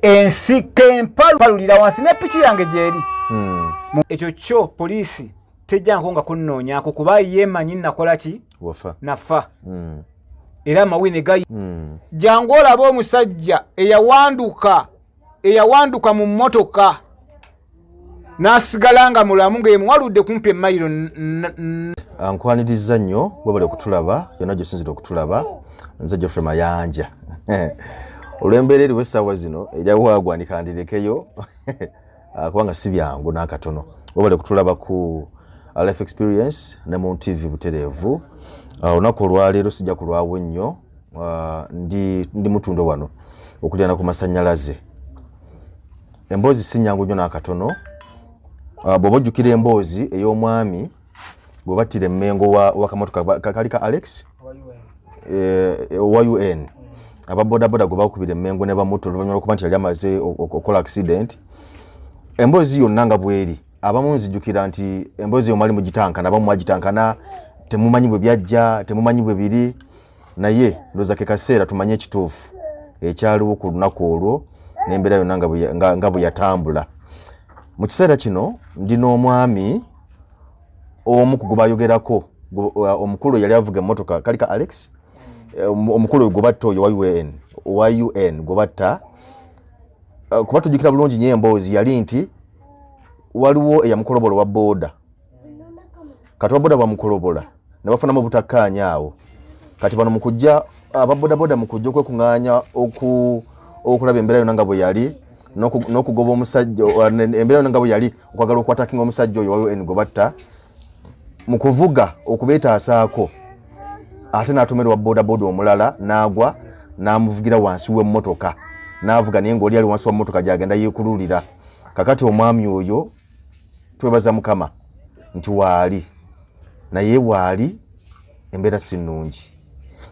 ensika empalu palulira wansi ne piki yange gyeri hmm. ekyo kyo poliisi tejjanko nga kunnoonyako kuba yeemanyi nakola ki nafa hmm. era amawine gayi hmm. jangu olaba omusajja eyawanduka eyawanduka mu mmotoka n'asigala nga mulamu nga yemuwaludde kumpi emayiro ankwaniriza nnyo webale okutulaba yonna gyosinzira okutulaba nze geoffrey mayanja olw'embeera eriwo essaawa zino ejawaagwanika ndirekeyo ah, kubanga si byangu n'akatono webale kutulaba ku ah, life experience ne mu tv butereevu ah, olunaku olwaleero sijja kulwawo nnyo ndi, ndi mutundo wano okulyana ku masannyalaze emboozi si nyangu nnyo n'akatono bw'oba ojjukira emboozi ey'omwami gwe battira emmengo wakamotoka kali ka alex owa un eh, mm. aba bodaboda gwe bakubira emmengo ne bamuta oluvanyuma lwokuba nti yali amaze okukola accident emboozi yonna nga bweri abamu nzijukira nti emboozi yomwali mugitankana abamu mwagitankana temumanyi bwe byajja temumanyi bwe biri naye ndoza ke kaseera tumanye ekituufu ekyaliwo ku lunaku olwo n'embeera yonna nga bwe yatambula mu kiseera kino ndi n'omwami omu ku gwebayogerako uh, omukulu yali avuga emmotoka kalika alex eh, omukulu gwebatta oyo yn wa un gwebatta uh, kuba tujjukira bulungi nyo emboozi yali nti waliwo eyamukolobolo wa booda kati baboda bamukolobola ne bafunamu obutakkaanya awo kati bano mukujja ababodaboda mukujja okwekung'anya okulaba embeera yona nga bwe yali n'okugoba omusajja embeera yona nga bwe yali okwagala okwatakinga omusajja oyo wawe engo batta mu kuvuga okubeetaasaako ate n'atomerwa bodaboda omulala n'agwa n'amuvugira wansi w'emmotoka n'avuga naye ng'oli ali wansi wa mmotoka gy'agenda yeekululira kakati omwami oyo twebaza mukama nti waali naye waali embeera si nnungi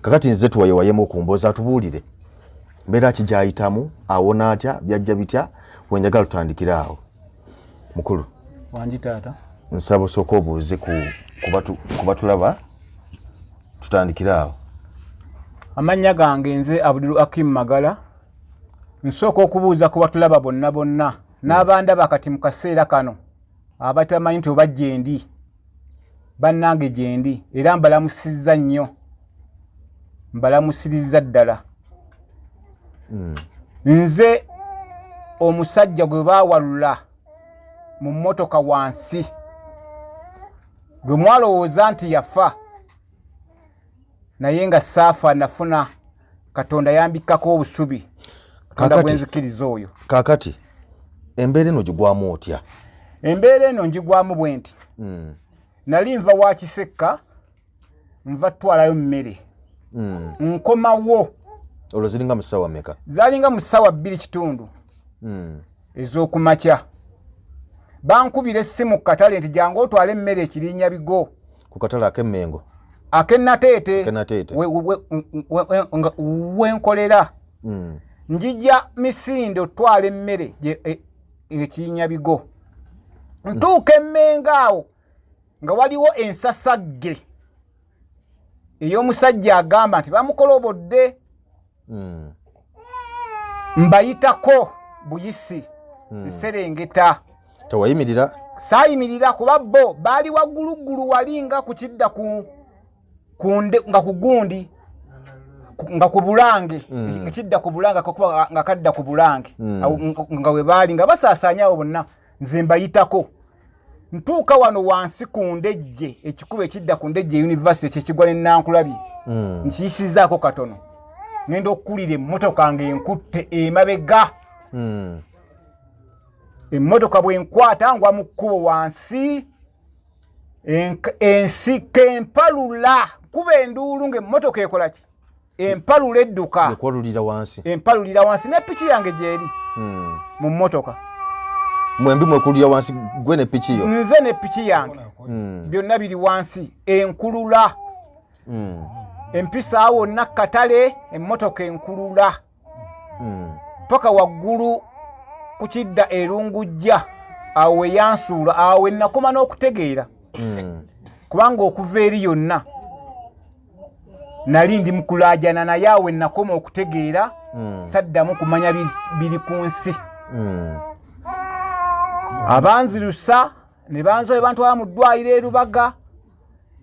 kakati nze tuwayewayemu okumboza atubuulire mbeera ki gyayitamu awona atya byajja bitya wenjagala tutandikire awo mukulu wangi taata nsaba osooka obuuze kubatulaba tutandikire awo amannya gange nze abudiru akim magala nsooka okubuuza kubatulaba bonna bonna n'abandaba kati mu kaseera kano abatamanyi nti oba gyendi bannange gyendi era mbalamusizza nnyo mbalamusirizza ddala hmm. nze omusajja gwe baawalula mu mmotoka wansi gwe mwalowooza nti yafa naye nga saafa nafuna katonda yambikkako obusubi katonda gwenzikiriza oyo kakati embeera eno gigwamu otya embeera eno ngigwamu bwe nti hmm. nali nva wa kisekka nva twalayo mmere hmm. nkomawo olwo ziringa mu ssaawa meka zalinga mu ssaawa bbiri kitundu hmm. ez'okumakya bankubira essimu ku katale nti jangu otwale emmere ekirinya bigo ku katale ak'emmengo akenateete wenkolera hmm. njija misinde otwala emmere e, ekirinya bigo hmm. ntuuka emmengo awo nga waliwo ensasagge ey'omusajja agamba nti bamukolobodde mm. mbayitako buyisi mm. nserengeta tewayimirira saayimirira kuba bo baali wagguluggulu wali nga ku kidda ku kunde nga ku gundi nga ku bulange mm. nga kidda ku bulange akakuba nga kadda ku bulange mm. nga we baali nga basaasaanyawo bonna nze mbayitako ntuuka wano wansi ku ndejje ekikuba ekidda ku ndejje univesity kyekigwa ne nankulabye hmm. nkiyisizaako katono ngenda okukulira emmotoka nga enkutte emabega hmm. emmotoka bwenkwata ngwa mu kkubo wansi ensika empalula kuba enduulu ngaemmotoka ekolaki empalula edduka ekwalulira wansi empalulira wansi ne piki yange gyeri hmm. mu mmotoka mwembi mwekululira wansi gwe ne piki yo nze ne piki yange hmm. byonna biri wansi enkulula hmm. empisaawo wonna katale emmotoka enkulula paka waggulu ku kidda erungujja awo weyansuula awo wenakoma n'okutegeera kubanga okuva eri yonna nali ndi mukulajana naye awe nakoma okutegeera mm. saddamu kumanya biri ku nsi mm. abanzirusa ne banzoe bantwala mu ddwaliro erubaga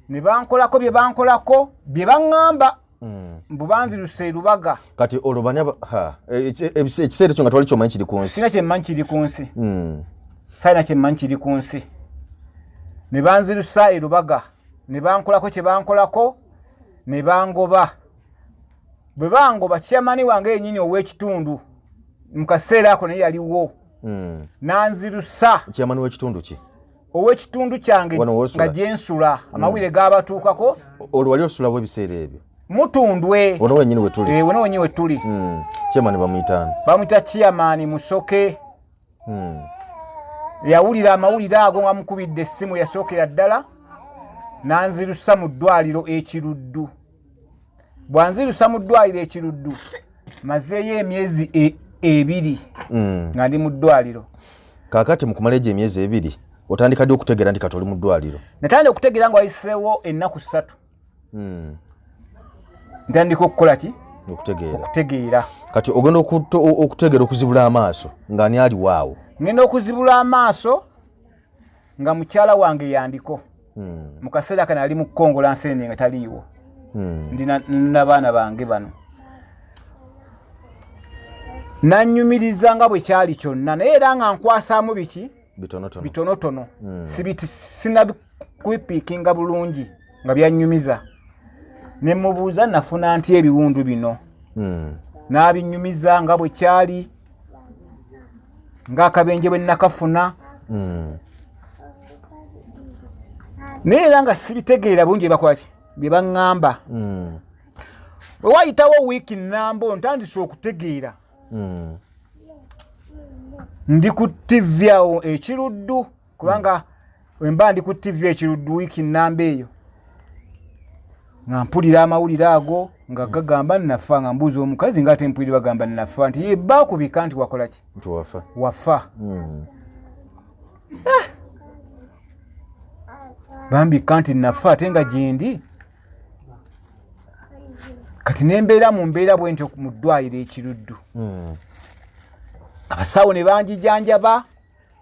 ne bankolako bye bankolako bye baŋŋamba mm. mbu banzirusa erubaga kati olwo bani e, e, ekiseera ekyo nga twali kyomanyi kiri ku nsi sina kyemmanyi kiri ku nsi mm. salina kyemmanyi kiri ku nsi ne banzirusa erubaga ne bankolako kye bankolako ne bangoba bwe bangoba kyamani wange yenyini ow'ekitundu mu kaseera ako naye yaliwo hmm. nanzirusa kyamani w'ekitundu ki ow'ekitundu kyange nga gyensula hmm. amawulire gaabatuukako olwo wali osulawo ebiseera ebyo mutundwe wona wenyini wetuli eh, wona wenyini wetuli hmm. kyamani bamuyitaani bamuyita kyamani musoke hmm. yawulira amawulire ago nga mukubidde essimu yasookera ddala nanzirusa mu ddwaliro ekiruddu bwanzirusa mu ddwaliro ekiruddu mazeeyo emyezi e, ebiri hmm. nga ndi mu ddwaliro kakati mukumala egyo emyezi ebiri otandika ddi okutegeera nti kati oli mu ddwaliro natandika okutegeera nga wayiseewo ennaku ssatu hmm. ntandika okukola ki okutegeera kati ogenda okutegeera okuzibula amaaso nga ani aliwo awo ngenda okuzibula amaaso nga mukyala wange yandiko hmm. mu kaseera kano ali mu kukongola nsende nga taliiwo hmm. ndi nabaana bange bano nanyumiriza nga bwe kyali kyonna naye era nga nkwasaamu biki bitonotono bitonotono mm. sibiti sinabikuipikinga bulungi nga byanyumiza ne mubuuza nafuna nti ebiwundu bino mm. n'abinyumiza nga bwe kyali ng'akabenje bwe nakafuna mm. naye era nga sibitegeera bungi ebakwaki bye baŋŋamba mm. bwe wayitawo wiiki nnamba ontandise okutegeera hmm. ndi ku ttivi awo ekiruddu kubanga wemba ndi ku ttivi ekiruddu wiiki nnamba eyo nga mpulira amawulire ago nga hmm. gagamba nnafa nga mbuuza omukazi nga ate mpulire bagamba nnafa nti ye baakubika nti wakola ki nti wafa wafa hmm. ah! bambika nti nafa ate nga gyendi kati nembeera mu mbeera bwentyo mu ddwaliro ekiruddu hmm. abasawo ne banjijanjaba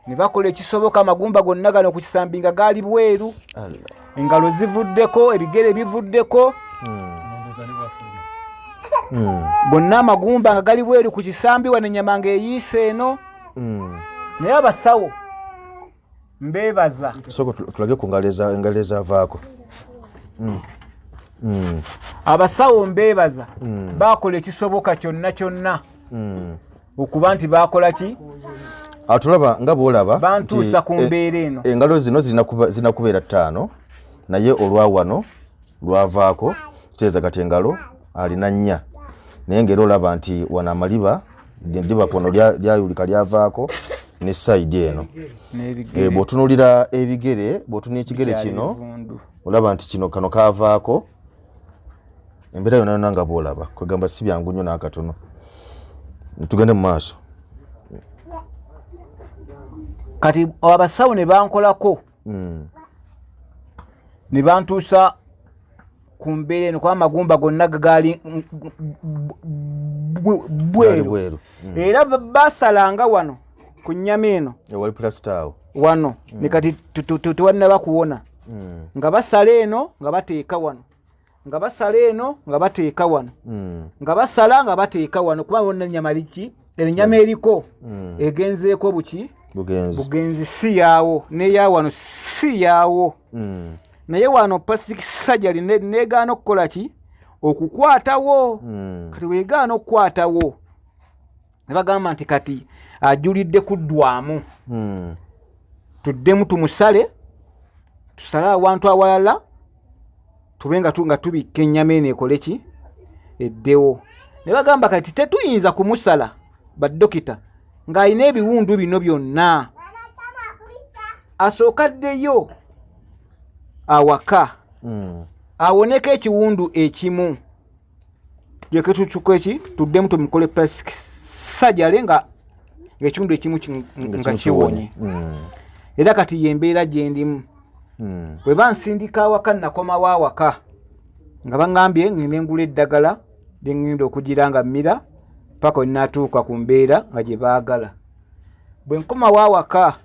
ne bakola ekisoboka amagumba gonna gano ku kisambi nga gaali bweru engalo zivuddeko ebigere bivuddeko hmm. hmm. bonna amagumba nga gali bweru ku kisambi wano enyama nga eyiisa eno naye abasawo mbeebaza sooka tulage ku engalo ezavaako hmm. hmm. abasawo mbeebaza hmm. baakola ekisoboka kyonna kyonna okuba nti baakola ki atulaba nga bwolaba bantuusa ku e- mbeera eno engalo zino zirina kubeera ttaano naye olwa wano lwavaako kiteeza kati engalo alina nnya naye ngaera olaba nti wano amaliba diba kono lyayulika lyavaako ne saidi eno eh, bwotunulira ebigere bwotunula ekigere kino olaba nti kino kano kavaako embeera yona yona nga bwolaba kwegamba si byangu nnyo nakatono tugende mu maaso kati abasawo ne bankolako mm. ne bantuusa ku mbeera eno kuba amagumba gonna gaali bweru mm. era basalanga wano ku nnyama eno wano mm. nekati tewalina bakuwona mm. nga basala eno nga bateeka wano nga basala eno nga bateeka wano hmm. nga basala nga bateeka wano kuba bona enyama liki enyama hmm. eriko hmm. egenzeeko buki bugenzi si yaawo neya wano si yaawo naye wano pasik sajali negaana okukola ki okukwatawo kati wegaana okukwatawo ne bagamba nti kati ajulidde kuddwamu hmm. tuddemu tumusale tusale awantu awalala tube nga nga tubikka ennyama eno ekole ki eddewo ne bagamba kati tetuyinza kumusala badokita ng'alina ebiwundu bino byonna asooka ddeyo awaka hmm. awoneko ekiwundu ekimu tuleke tutuka eki tuddemu tumukole plastic sajale nga ngaekitundu ekimu nga kiwonye hmm. era kati yembeera gyendimu hmm. bwe bansindika awaka nakomawo awaka nga baŋambye ŋŋenda engula eddagala lyeŋŋenda okugira nga mmira paka wenatuuka ku mbeera nga gye baagala bwe nkomawo awaka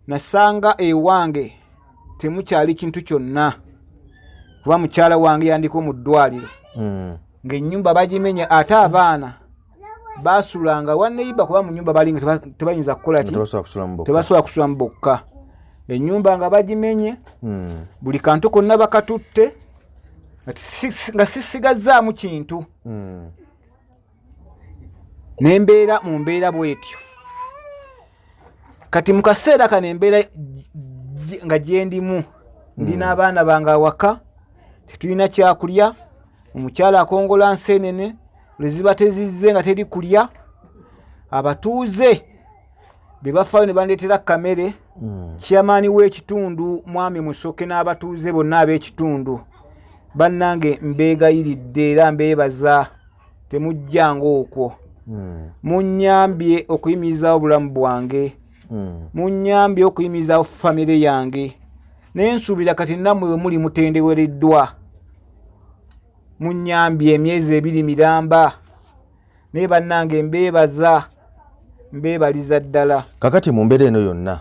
nasanga ewange temukyali kintu kyonna kuba mukyala wange yandiko mu ddwaliro hmm. ngaenyumba bagimenya ate abaana basulanga waneyiba kuba munyumba balinga tebayinza kukolatebasobola kusulamu bokka enyumba nga bagimenye hmm. buli kantu konna bakatutte nga sisigazaamu kintu hmm. ne mbeera mu mbeera bwetyo kati mu kaseera kano embeera nga gyendimu ndi hmm. n'abaana bange awaka tetulina kyakulya omukyala akongola nseenene lweziba tezizze nga teri kulya abatuuze be bafaayo ne bandeetera kamere mm. kyamaani w'ekitundu mwami musoke n'abatuuze bonna ab'ekitundu bannange mbeegayiridde era mbeebaza temujjanga okwo mm. munnyambye okuyimirizaawo obulamu bwange mm. munnyambye okuyimirizaawo famire yange naye nsuubira kati nammwe bwe muli mutendewereddwa munnyambye emyezi ebiri miramba naye bannange mbeebaza mbeebaliza ddala kakati mu mbeera eno yonna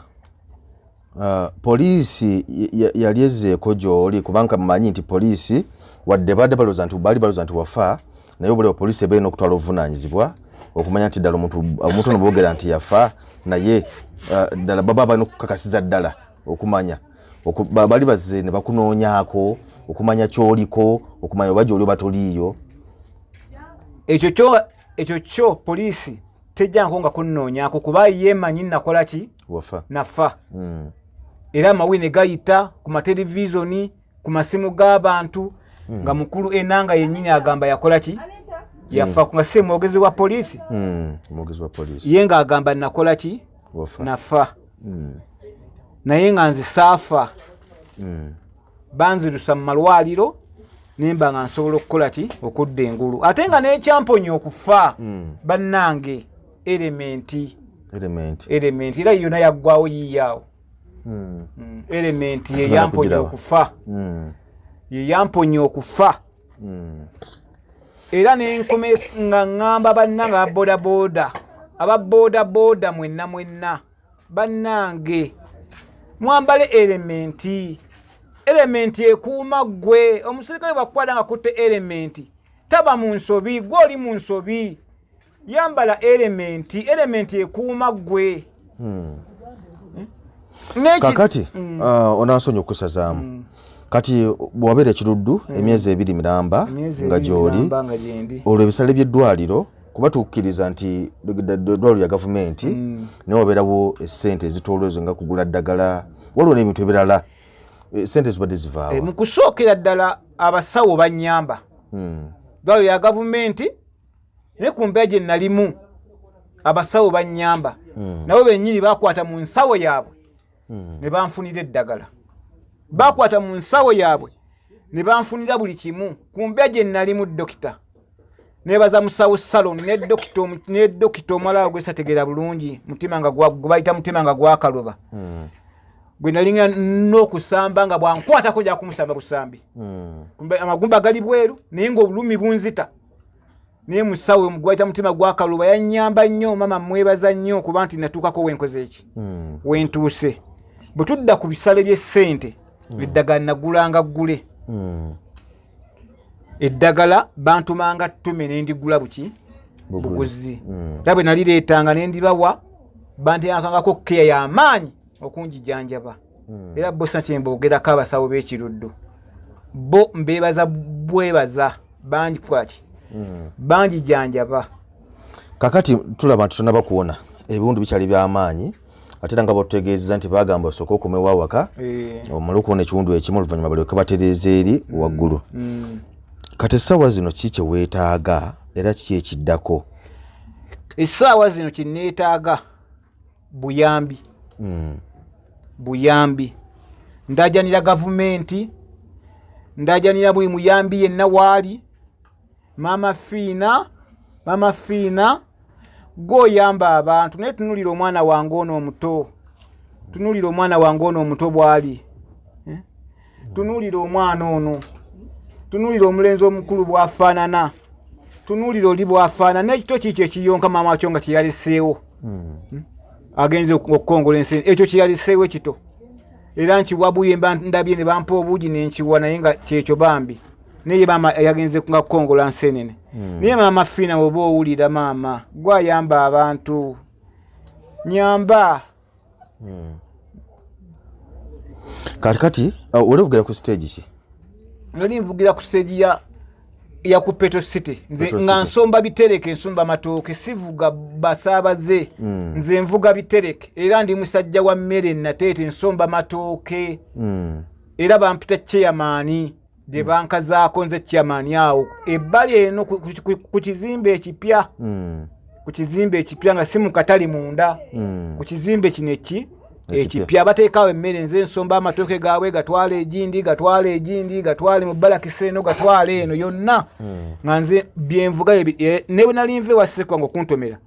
uh, poliisi yali ezzeeko gy'oli kubanga mumanyi nti poliisi wadde baadde balooza nti baali balooza nti wafa naye obulaba poliisi ebeera n'okutwala obuvunaanyizibwa okumanya nti ddala omuntu ono boogera nti yafa naye uh, ddala baba balina okukakasiza ddala okumanya bali bazze ne bakunoonyako okumanya kyoliko okumanya oba gyoli oba toliiyo ekyo kyo ekyo kyo poliisi tejjanko nga kunnoonyako kuba yeemanyi nakola ki nafa hmm. era amawi ne gayita ku matelevizoni ku masimu g'abantu hmm. nga mukulu enanga yennyini agamba yakola ki yafa hmm. nga si mwogezi wa poliisi ye ng'agamba nakola ki nafa naye nga nze saafa banzirusa mu malwaliro nemba nga nsobola okukola ki okudda engulu ate nga nekyamponya okufa hmm. bannange elementi elementi era yona yaggwawo yiiyaawo hmm. hmm. elementi yeyamponya okufa yeyamponya okufa era nenkome nga ŋŋamba bannanga babodaboda aba bodaboda mwenna mwenna bannange mwambale elementi elementi ekuuma ggwe omuserikale bwakukwata nga kutte elementi taba mu nsobi gwe oli mu nsobi yambala elementi elementi ekuuma ggwe hmm. hmm? kakati hmm. uh, onansonyi okusazaamu kati bwabeera ekiruddu emyezi ebiri miramba nga gyoli olwo ebisale by'eddwaliro kuba tukkiriza nti dwaliro ya gavumenti mm. naye wabeerawo esente ezitoolwa ezo nga kugula ddagala waliwo n'ebintu ebirala eh, sente zibadde zivaawa eh, mu kusookera ddala abasawo bannyamba hmm. dwaliro ya gavumenti naye ku mbeera gye nalimu abasawo bannyamba hmm. nabo bennyini bakwata mu nsawo yaabwe hmm. ne banfunira eddagala bakwata mu nsawo yaabwe ne banfunira buli kimu ku mbeera gye nnalimu dokita nebaza musawo salon ne dokita omulala gwesategeera bulungi mutima nga gwebayita mutima nga gwakaloba hmm. gwe nalinga n'okusamba nga bwankwatako jakumusamba busambi hmm. amagumba gali bweru naye ngaobulumi bunzita naye musawo omugwaita mutima gwakaluba yanyamba nnyo mama mwebaza nnyo kuba nti natuukako wenkoze eki hmm. wentuuse bwe tudda ku bisale by'essente hmm. eddagala nagulanga ggule hmm. eddagala bantumanga ttume ne ndigula buki buguzi era bwe nalireetanga ne ndibawa banteakangako keya y'amaanyi okungijanjaba hmm. era bo sina kyemboogerako abasawo b'ekiruddu bo mbeebaza bwebaza bangi kwaki hmm. bangi janjaba kakati tulaba nti tonaba kuwona ebiwundu bikyali by'amaanyi ate era nga batutegeezeza nti bagamba osooka okomewo awaka eh. omulukuona ekiwundu ekimu oluvannyuma balyoke batereeza eri hmm. waggulu kati essaawa zino ki kyeweetaaga era kiki ekiddako essaawa zino kyeneetaaga buyambi mm. buyambi ndajanira gavumenti ndajanira buli muyambi yenna waali maama fiina maama fiina gweoyamba abantu naye tunulira omwana wange ono omuto tunulira omwana wange ono omuto bwali tunuulira omwana ono tunuulira omulenzi omukulu bwafaanana tunuulira oli bwafaanana ekito kiikyo ekiyonka maama wakyo nga kyeyaliseewo hmm. hmm? agenze okukongola ensi ekyo kyeyaliseewo ekito era nkiwabuye ndabye ne bampa obuugi nenkiwa naye nga kyekyo bambi naye maama yagenze nga kukongola nsenene hmm. naye maama fiina oba owulira maama gwayamba abantu nyamba Hmm. kati kati uh, oli ovugira ku stage ki nali nvugira ku stage ya ya ku petro city nze nga nsomba bitereke nsumba matooke sivuga basaabaze mm. nze nvuga bitereke era ndi musajja wa mmere nateete nsomba matooke mm. era bampita cheyamaani gye bankazaako nze chairman awo ebbali eno ku kizimbe ekipya hmm. ku kizimbe ekipya nga si mukatali munda hmm. ku kizimbe kino eki ekipya bateekawo emmere nze nsomba amatooke gaabwe gatwala egindi gatwala egindi gatwale mu balakisa eno gatwala eno yonna hmm. nga nze byenvuga e, ne bwe nali nva ewasekwa nga okuntomera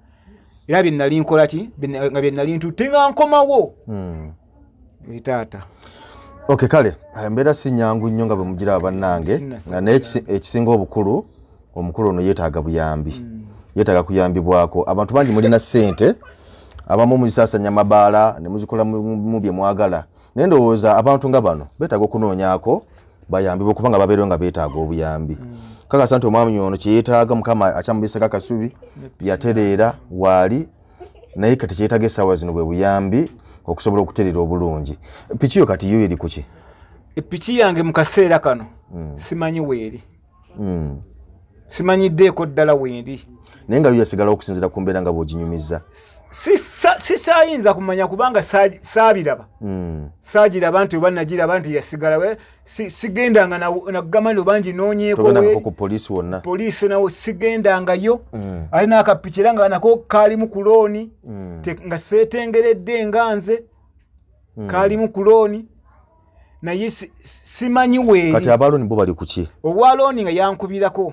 era bye nali nkola ki nga bye nali ntutte nga nkomawo buli taata ok kale embeera si nyangu nnyo nga bwe mugira abannange naye ekisinga obukulu omukulu ono yeetaaga buyambi hmm. yeetaaga kuyambibwako abantu bangi mulina ssente abamu muzisasanya mabaala ne muzikola mu bye mwagala naye ndowooza abantu nga bano beetaaga okunoonyako bayambibwe kubanga babeerewo nga beetaaga obuyambi hmm. kakasa nti omwami ono kye yeetaaga mukama akyamubisako akasubi yatereera waali naye kati kyetaga esawa zino bwe buyambi okusobola okuterera obulungi piki yo kati yo eri kuki epiki yange mu kaseera kano mm. simanyi weeri mm. simanyiddeeko ddala weeri naye nga yo yasigala okusinzira ku mbeera nga bwoginyumiza sisayinza kumanya kubanga saabiraba mm. saagiraba nti oba nagiraba nti yasigala sigendanga nakugamba nti obangi nonyekopolisi wonna poliisi nawo sigendangayo mm. ali nakapiki era nga nako kaalimu ku looni mm. nga seetengeredde nga nze mm. kaalimu ku looni naye simanyi weeri kati abalooni bo bali kuki owa looni nga yankubirako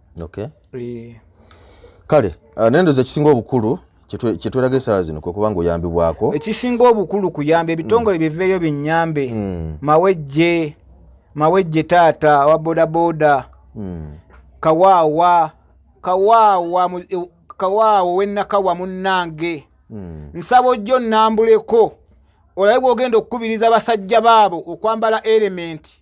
okay. e. kale ah, nendoza ekisinga obukulu kyetweraga esaawa zino kwekuba nga oyambibwako ekisinga obukulu kuyamba ebitongole mm. biveeyo binyambe mm. mawejje mawejje taata wa bodaboda mm. kawaawa kawaawa e, kawaawa wenakawa munnange mm. nsaba ojjo nnambuleko olabe bwogenda okukubiriza basajja baabo okwambala elementi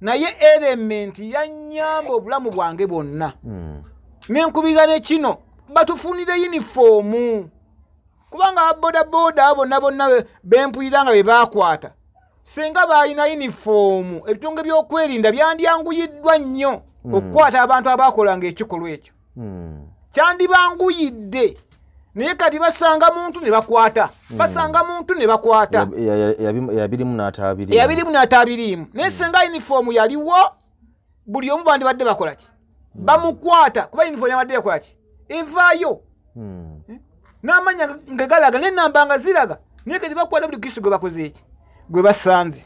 naye erementi yanyamba obulamu bwange bwonna hmm. nenkubira ne kino batufunire yunifoomu kubanga babodaboda abo bonna bonna bempulira nga be bakwata singa baalina yunifoomu ebitunge by'okwerinda byandyanguyiddwa nnyo hmm. okukwata abantu abakolanga ekikolwa ekyo hmm. kyandibanguyidde naye kati basanga muntu ne bakwata hmm. basanga muntu ne bakwata eyabirimu n'atabiriimu naye hmm. senga yunifoomu yaliwo buli omu bandibadde bakola ki bamukwata kuba yunifoomu yabadde yakola ki evaayo eh? n'amanya nga galaga n'ennamba nga ziraga naye kati bakwata buli kristo gwe bakoze eki gwe basanze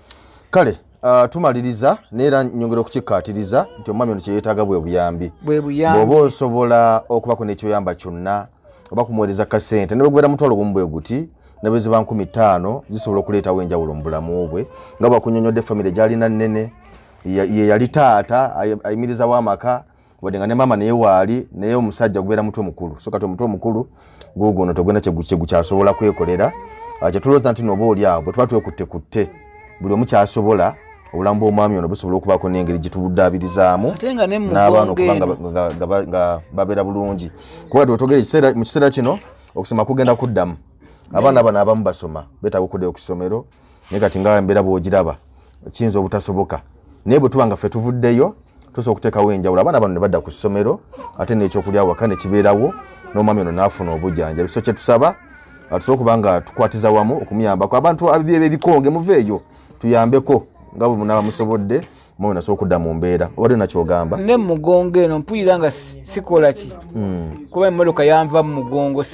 kale Uh, tumaliriza neera nyongera okukikkaatiriza nti omwami ono kyeyeetaaga bwe buyambi bweoba osobola okubako n'ekyoyamba kyonna oba kumuweereza kasente ne bwegwera mutwalo gumu bwe guti nebeziba nkumi ttaano zisobola okuleetawo enjawulo mu bulamu bwe nga bwakunyonyodde famire gyalina nnene ye yali taata ayimirizawo amaka wadde nga ne maama naye waali naye omusajja gubeera mutwe mukulu so kati omutwe omukulu guguno togenda kyegukyasobola kwekolera ah, kyetulooza nti nooba oli awo bwe tuba twekutte kutte buli omu kyasobola obulamu bw'omwami ono busobola okubaako n'engeri gye tubudaabirizaamu n'abaana okuba nga babeera bulungi kuba twetogera mu kiseera kino okusoma kugenda kuddamu abaana bano abamu basoma betaaga okuddayo ku ssomero naye kati nga mbeera bwogiraba kiyinza obutasoboka naye bwetuba nga ffe tuvuddeyo tusobola okuteekawo enjawulo abaana bano ne badda ku ssomero ate n'ekyokulya waka ne kibeerawo n'omwami ono n'afuna obujanjabi so kyetusaba tusobola okuba nga tukwatiza wamu okumuyambako abantu abyebyebikonge muveeyo tuyambeko nga bwe munaba musobodde moyo nasobola okudda mu mbeera obadde nakyogamba ne mugongo eno mpulira nga sikola ki hmm. kuba emmotoka yanva mu mugongo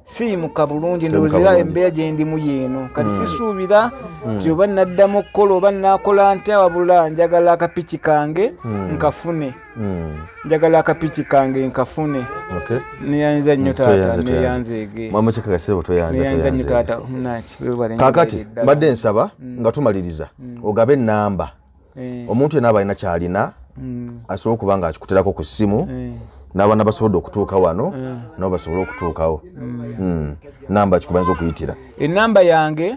siyimuka bulungi ndowozera embeera gyendimu yeeno kati hmm. sisuubira hmm. nti oba naddamu okukola oba nakola ntya wabula njagala akapiki kange nkafune Hmm. njagala akapiki kange nkafune neyanza nnyo taata neyanzegeneyanza nnyo taata kakati mbadde nsaba hmm. nga tumaliriza hmm. ogabe enamba eh. omuntu yena abalina kyalina asobola okuba nga akikuterako ku ssimu eh. n'abaana basobodde okutuuka wano eh. nabo basobole okutuukawo namba kikubayinza okuyitira enamba yange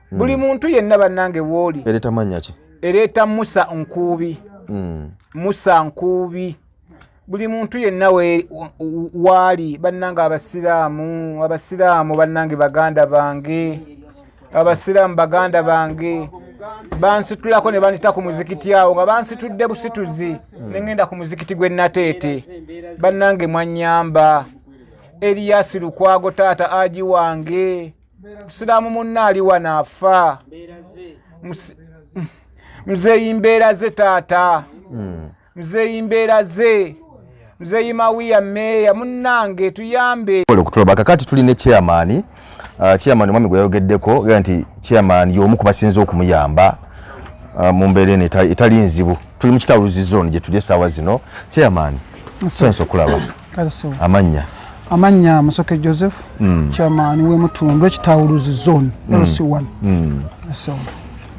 mm. buli muntu yenna bannange wooli ereeta mannya ki ereeta musa nkuubi mm. musa nkuubi buli muntu yenna waali bannange abasiraamu abasiraamu bannange baganda bange abasiraamu baganda bange bansitulako ne banzita ku muzikiti awo nga bansitudde busituzi hmm. ne ŋenda ku muzikiti gwe nateete bannange mwanyamba eriyasi lukwago taata aji wange musiraamu munna aliwa naafa mzeeyi mbeera ze taata hmm. mzeeyi mbeera ze mzeeyi mawiya meeya munnange tuyambe okutulaba kakati tuli ne chairman uh, chairman omwami gwe yayogeddeko gera nti chairman y'omu ku basinza okumuyamba uh, mu mbeera eno etali nzibu tuli mu kitawuluzi zone gye tuli essaawa zino chairman sonsa okulaba amannya amannya musoke joseph mm. chairman wemutundu ekitawuluzi zone mm. lc1 mm.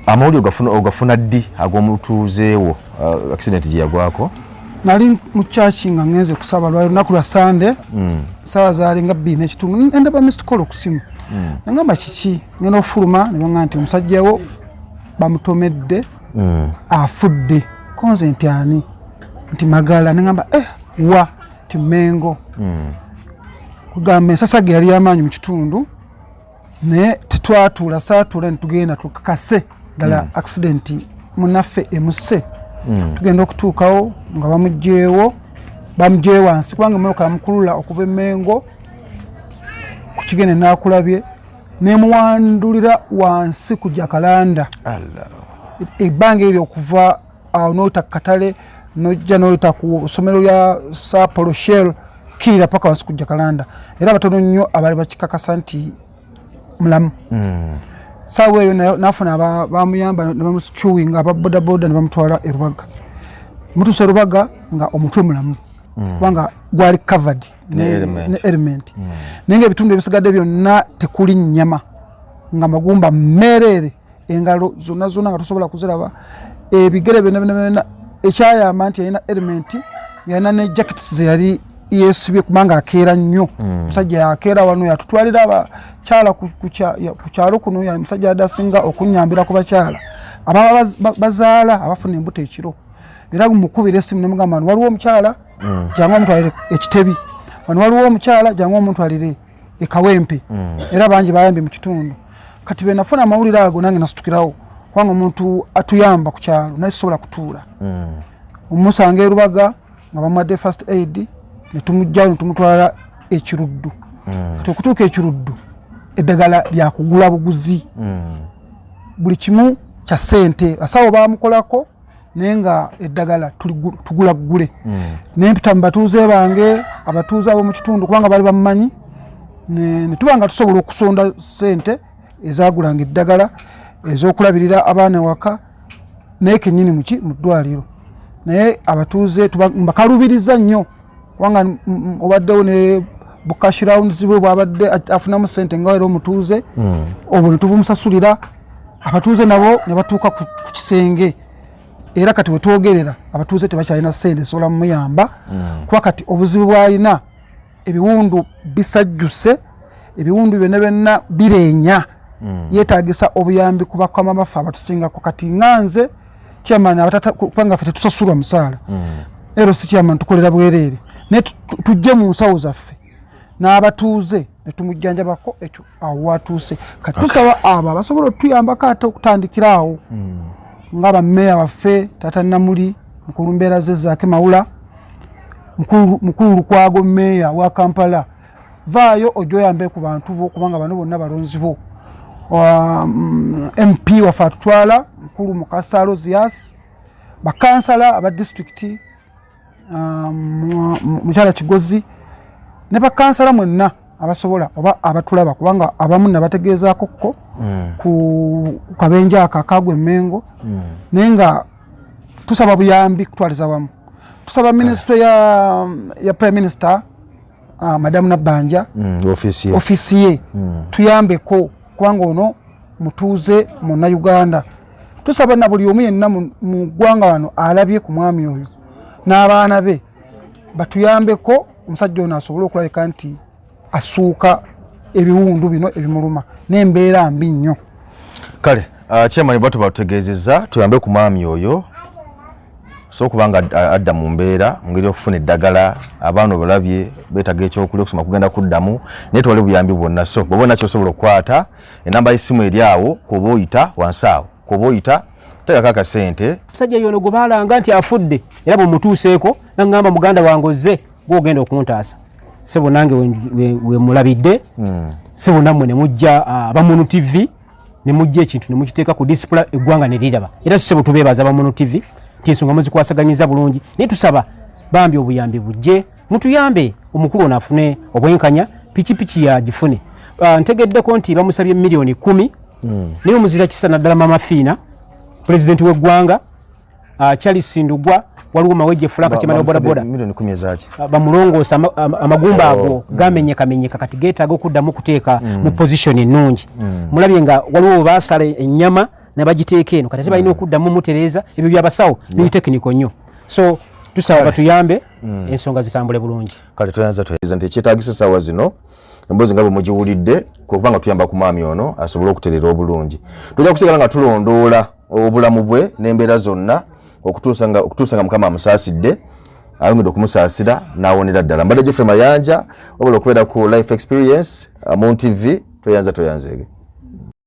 amawuli ogafuna ddi ag'omutuuzeewo uh, accident gye yagwako nali mukyaki nga ngenze kusaba lwali lunaku lwa sande mm. sawa zaali nga bbiri nekitundu endaba mist call okusimu mm. nangamba kiki ngenda okufuluma nebanga nti omusajjawo bamutomedde mm. afudde konze nti ani nti magala nengamba eh, wa ti mengo mm. kugamba ensasa ge yali yamaanyi mu kitundu naye tetwatuula saatuula netugenda tukakase ddala mm. accident munaffe emuse mm. tugenda okutuukawo nga bamugyewo bamugyewo wansi kubanga emotoka yamukulula okuva emengo kukigenda nakulabye nemuwandulira wansi ku jakalanda ebbanga eryo okuva awo noyita kukatale nojja noyita ku somero lya sapolo shell kirira paka wansi ku jakalanda era abatono nnyo abali bakikakasa nti mulamu hmm. saawa eyo nafuna bamuyamba nebamusicuwi nga ababodaboda nebamutwala erubaga mutuusa erubaga nga omutwe mulamu hmm. kubanga gwali covered ne element hmm. naye nga ebitundu ebisigadde byonna tekuli nyama nga magumba mereere engalo zonna zonna nga tosobola kuziraba ebigere byonna byonna byonna ekyayamba nti yalina element yalina ne jackets zeyali yesibye kubanga akeera nnyo mm. musajja yakeera wano yatutwalira abakyala ku kyalo kuno musajja yadde asinga okunyambira ku bakyala ababa bazaala abafuna embuto ekiro era mukubira esimu nemugamba waliwo omukyala mm. jangu omutwalire ekitebi wano waliwo omukyala jangu omutwalire ekawempe mm. era bangi bayambye mu kitundu kati benafuna amawulire ago nange nasitukirawo kubanga omuntu atuyamba ku kyalo naye sisobola kutuula mm. omusanga erubaga nga bamuwadde first aid netumugjawo netumutwala ekiruddu mm. kati okutuuka ekiruddu eddagala lyakugula buguzi mm. buli kimu kya sente asawo bamukolako naye nga eddagala tugula ggule hmm. naye mpita mu batuuze bange abatuuze ab'omu kitundu kubanga bali bamumanyi ne tuba nga tusobola okusonda sente ezagulanga eddagala ezokulabirira abaana ewaka naye kenyini muki mu ddwaliro naye abatuuze mbakalubiriza nnyo kubanga obaddewo ne bukash rounds bwe bwabadde afunamu sente nga era omutuuze hmm. obwo netubumusasulira abatuuze nabo ne batuuka ku kisenge era kati wetwogerera abatuuze tebakyalina sente esobola mumuyamba hmm. kuba kati obuzibu bwalina ebiwundu bisajjuse ebiwundu byonna byonna bireenya hmm. yetagisa obuyambi kubakwamamaffe abatusingako kati nganze chairman abatata kupanga fete tusasulwa msala mm. ero si chairman tukolera bwerere ne tujje mu nsawo zaffe n'abatuuze ne tumujjanjabako ekyo awo watuuse kati tusaba okay. abo abasobola otuyambako ate okutandikira awo mm. nga bameeya baffe tata namuli mukulu mbeera ze zaake mawula mukulu lukwago meeya wa kampala vaayo ojja oyambe ku bantu bo kubanga bano bonna balonzi bo mp um, waffe atutwala mukulu mukasa rosias bakansala aba disitulikiti um, mukyala kigozi ne bakansala mwenna abasobola oba abatulaba kubanga abamu nabategeezaako kko mm. ku kabenja ako akagwa emengo mm. naye nga tusaba buyambi kutwaliza wamu tusaba minisitule ya prime minister ah, madamu nabbanja mm, ofiisi ye mm. tuyambeko kubanga ono mutuuze munauganda tusaba na buli omu yenna mu ggwanga wano alabye ku mwami oyo n'abaana be batuyambeko omusajja ono asobole okulabika nti asuuka ebiwundu bino ebimuluma n'embeera mbi nnyo kale ah, chairman batuba tutegeezezza tuyambe ku mwami oyo so kubanga adda mu mbeera mungeri okufuna eddagala abaana obalabye betaga ekyokulya okusoma kugenda kuddamu naye tewali buyambi bwonna so bwoba nakyo osobola okukwata enamba y'essimu eri awo kuba oyita wansi awo kuba oyita tegako akasente musajja yono gwe baalanga nti afudde era bwemutuuseeko naŋŋamba muganda wange ozze gwogenda okuntaasa sebo nange wemulabidde hmm. sebo nammwe ne mujja ah, abamunu tivi ne mujja ekintu ne mukiteeka ku disipula eggwanga ne liraba era tusebo tubeebaza bamuno tv nti ensonga muzikwasaganyiza bulungi naye tusaba bambi obuyambi bujje mutuyambe omukulu ono afune obwenkanya pikipiki yagifune uh, ah, ntegeddeko nti bamusabye miliyoni kumi mm. naye omuzira kisa naddala mama fiina pulezidenti w'eggwanga ah, charles ndugwa waliwo mawejje fulaka kimana obodaboda ah, bamulongoosa amagumba ago oh, mm. gamenyekamenyeka kati getaaga okuddamu okuteeka mm. mu position ennungi mm. mulabye nga waliwo webaasala ennyama nebagiteeka eno kati ate balina okuddamu mutereeza ebyo byabasawo biri tekiniko nnyo so tusaba batuyambe ensonga zitambule bulungi kale toyanza toyanza nti ekyetagisa sawa zino emboozi nga bwe mugiwulidde kuba nga tuyamba ku maami ono asobole okuterera obulungi tujja kusigala nga tulondoola obulamu bwe n'embeera zonna okutuusa nga mukama amusaasidde ayongedde okumusaasira n'awonera ddala mbadde jeffrey mayanja wabula okubeera ku life experience uh, mu ntv tweyanza tweyanzeege